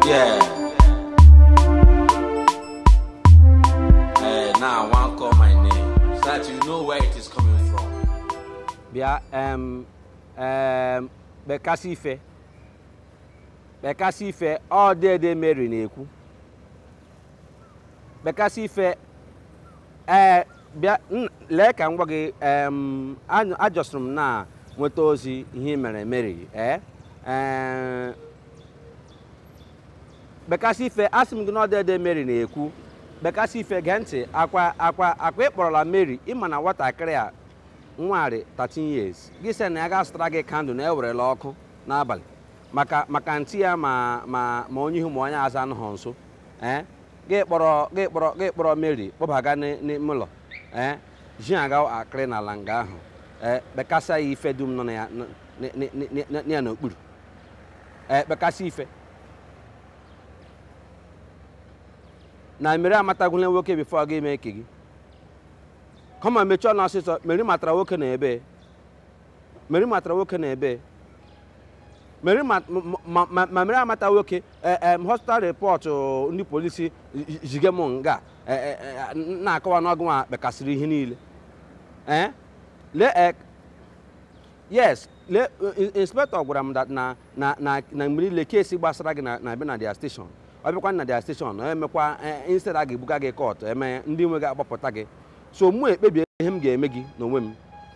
Yeah. Eh, now I want call my name so that you know where it is coming from. bịa em em kpekasị ife kpekasị ife ọ dede mary na-ekwu kpekasị ife ee bịa n- lee ka m gwa gị em, anyụ- ajọsịrị m na nweta ozi ihe i mere meri ee ee, kpekasị ife asị m gị na ọ dede meri na-ekwu kpekasị ife gee ntị akwa akwa akwa ị kpọrọla meri ịma na nwatakịrị a nwarị 13 years gị sị na ya gaa zụtara gị kandụl na ewerela ọkụ n'abalị maka maka antị ya ma ma ma onye ihu ma onye azụ anọghị nso ee gị kpọrọ gị kpọrọ gị kpọrọ mary kpọbaga n'ị- n'ime ụlọ ee ji aga akịrị n'ala nga ahụ ee kpekasa ya ife dum nọ na ya n- n- n- n- n- ya n'okpuru ee kpekasị ife na mary amatagwula nwoke bifo ọ ga-eme ike gị kama mechie ọnụ ọsịsọ mary matara nwoke na ebee Meri matara nwoke na ebee Meri ma ma- ma- ma Meri amata nwoke eh, eh, hospital report oh, ndị polisi zige m nga eh, eh, eh, na-akọwa na ọ gị nwa kpekasịrị ihe niile Eh? lee eh, yes le in- inspector gwara m that na na na na mgbe niile kesi gbasara gị na na-abịa na dia station ọ bịakwa na dia station ọ emekwa eh, instead a ga-ebuga gị kọt eme ndị nwe gị agbapụta gị so mụ ekpebie ihe m ga-eme gị n'onwe m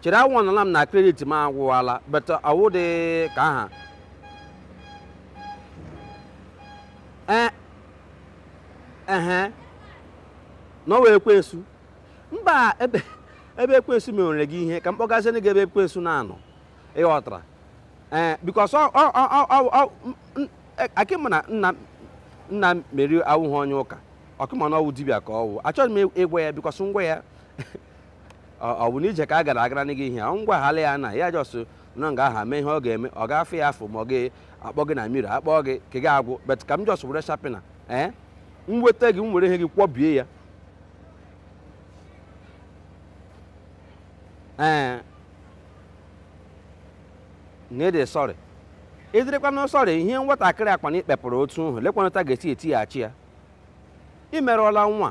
chere awọnọla m na kredit m agwụwala but ọwụ dị ka aha ee ehe na ọ wụ ekwensu mba ebe ebe ekwensu mewere gị ihe ka m kpọgazie gị ebe ekwensu na-anọ ịghọtara ee bikos akwa ịma na nna nna meri awụghị onye ụka ọkwa ịma na ọwụ dibịa ka ọwụ achọghị m ịgwa ya bikos m gwa ya ọ bụ n'ije ka a gara agara gị ihe ahụ m gwahala ya na ya jọsụ nọ nga aha mee ihe ọ ga-eme ọ ga-afụ ya afọ ma ọ ga-akpọ gị na mmiri akpọ gị ka gị agwụ bet ka m jọs were shapina ee m weta gị m were ihe gị kwọbie ya ee na ị dị sọrị ịdịrịkwanụ sọrị ihe nwatakịrị akpa na ikpepụrụ otu nhụ lekwanụ otu a ga-esi etighachi ya imerụọla nwa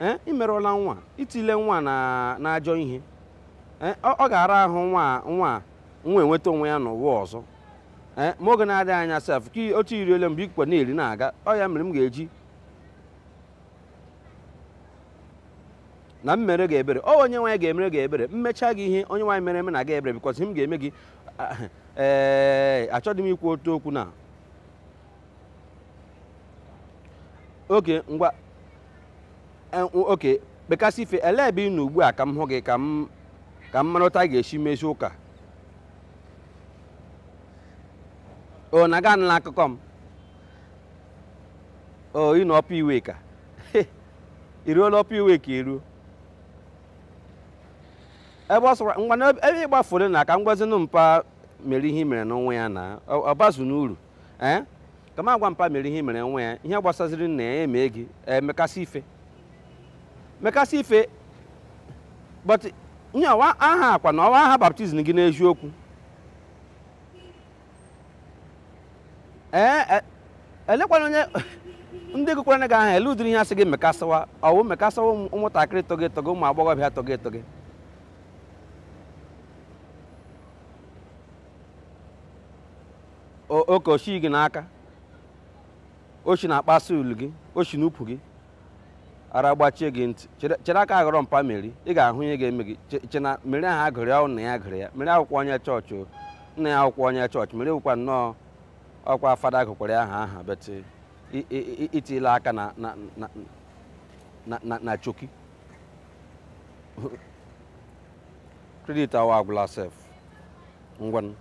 ee imerụọla nwa itile nwa n'ajọ ihe ee ọ ọ ga-ara ahụ nwa nwa nwa enweta onwe ya n'ụwa ọzọ ee ma oge na-adịghị anya sef ka i- otu iri ole mgbe ikwe na-eri na-aga ọ ya mere m ga-eji na m mere gị ebere ọ onye nwe anyị ga-emere gị ebere m mecha gị ihe onye nwe anyị mere emena gị ebere because ihe m ga-eme gị ah, ee achọghị m ikwu otu okwu na oke ngwa eh, oke bekasị ife elee ebe ị nọ ugbu a ka m hụ gị ka m ka m mara otu a ga-esi mezi ụka o na a ga-anụla akụkọ m o ị nọ Upper Iweka i ruola Upper Iweka i ruo ebe ọ sọkwara ngwa na ebe ị gbafuru na ka m gwazinụ mpa meri ihe i merenụ nwa ya na ọ ọ bazinụ uru ee ka m gwa mpa meri ihe i mere nwa ya ihe gbasaziri nna ya emee gị emekasị ife mekasị ife but ihe ọ wụ aha a kwanụ ọ wụ aha baptism gị n'eziokwu ee e- elekwanụ onye ndị gụkwara gị aha elee ụdịrị ihe a sị gị mekasịwa ọ wụ mekasịwa ụmụ- ụmụntakịrị tọgị etọgị ụmụ agbọghọbịa tọgị etọgị oke oshi gị n'aka oshi na-akpasa ulu gị oshi n'ụkwụ gị ara gbachie gị ntị chere aka ghọrọ mpa meri ị ga-ahụ ihe ga-eme gị che na meri aha a gụrụ ya na ya a gụrụ ya meri wụkwa onye chọọchị o nna ya wụkwa onye chọọchị meri wụkwa nnọọ ọ wụkwa fada gụkwara ya aha aha but i tiila aka na choki credit awa agwụla sef ngwanụ